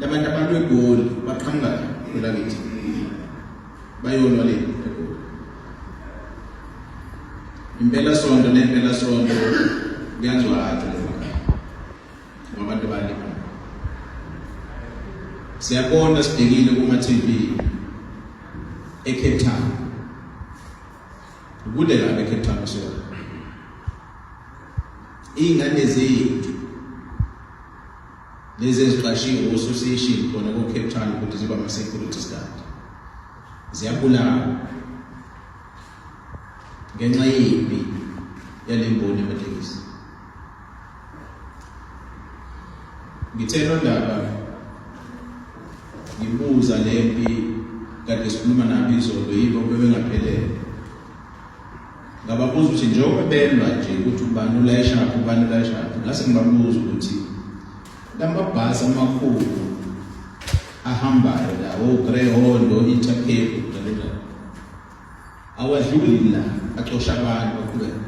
labantu abantu egoli baqhamuka elakithi bayonwa le egoli impela sonto nempela sonto kuyazwa athi ngabantu bali siyabona sidekile kuma TV eCape Town kude la eCape Town so ingane zethu lezi eziqashiwe ososation khona ko-cape town ukuthi ziba ama-security guard ziyabulawa ngenxa yimbi yale mboni yamatekisi ngithe londaba ngibuza le mpi kade sikhuluma nabo izolo yibo bebengaphelele ngababuza ukuthi njengoba belwa nje ukuthi ubani ulayishaphi ubani ulayishaphi ngase ngibabuza ukuthi lamabhasi amakhulu ahambayo la ogreyhondo oh, intercape njalonjalo awadluli la acosha abantu baqhubeka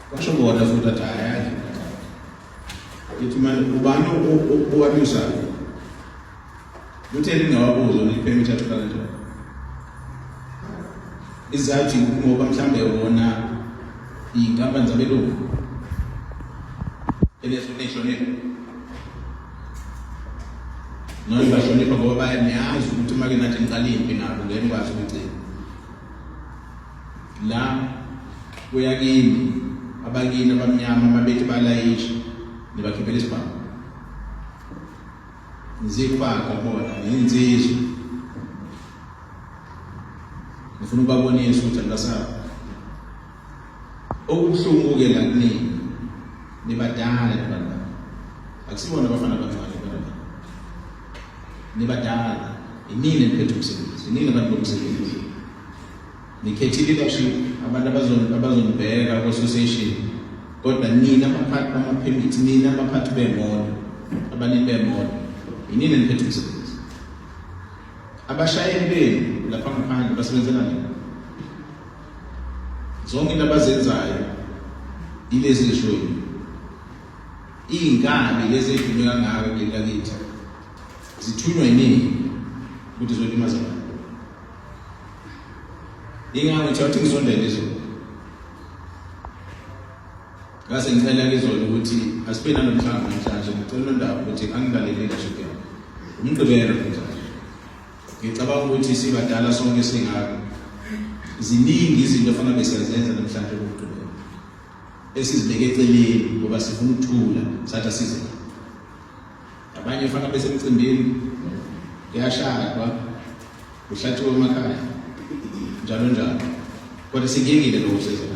kwasho bona futhi athi hayi athi manje ubani owabisayo Luthe lingawabuza ulipheme ithathu kanjalo. Izathi ngoba mhlambe wona iy'nkampani zabelungu enehlonipho noma bahlonipha ngoba bayaniyazi ukuthi uma ke nathi niqala impi nabo ngeke nikwazi ukugcina la kuya kimi abakini abamnyama babethi balayisha nibakhiphela isibhamu Ngizifaka bona ngiyinsizwa. Ngifuna ukubabonisa ukuthi angasaba. Okubuhlungu ke la kunini. Nibadala abantu. Akusibona abafana abancane abantu. Nibadala. Inini niphethe umsebenzi. Inini abantu bomsebenzi. Ngikhethe leadership abantu abazonibheka ku-association kodwa nina abaphathi bamaphemithi nina abaphathi beemoto abanini beemoto yinini eniphethe umsebenzi abashayeli benu lapha ngaphandle basebenzela nini zonke into abazenzayo yilezi lishoni iy'nkabi lezi ey'dume kangaka kuleli lakithi zithunywa yiningi ukuthi zolimaza abantu Ingabe uthe wathi ngisondele izolo. Ngase ngicela ngizolo ukuthi asibe nanomhlangano namhlanje ngicela undaba ukuthi angilalele leadership yami. Umgqibelo futhi. Ngicabanga ukuthi sibadala sonke singaka. Ziningi izinto fanele besiyazenza namhlanje umgqibelo. Esizibeke eceleni ngoba sifuna ukuthula sathi asize. abanye fana besemcimbini kuyashadwa kuhlathiwe emakhaya njalo njalo kodwa sikingile lokusezela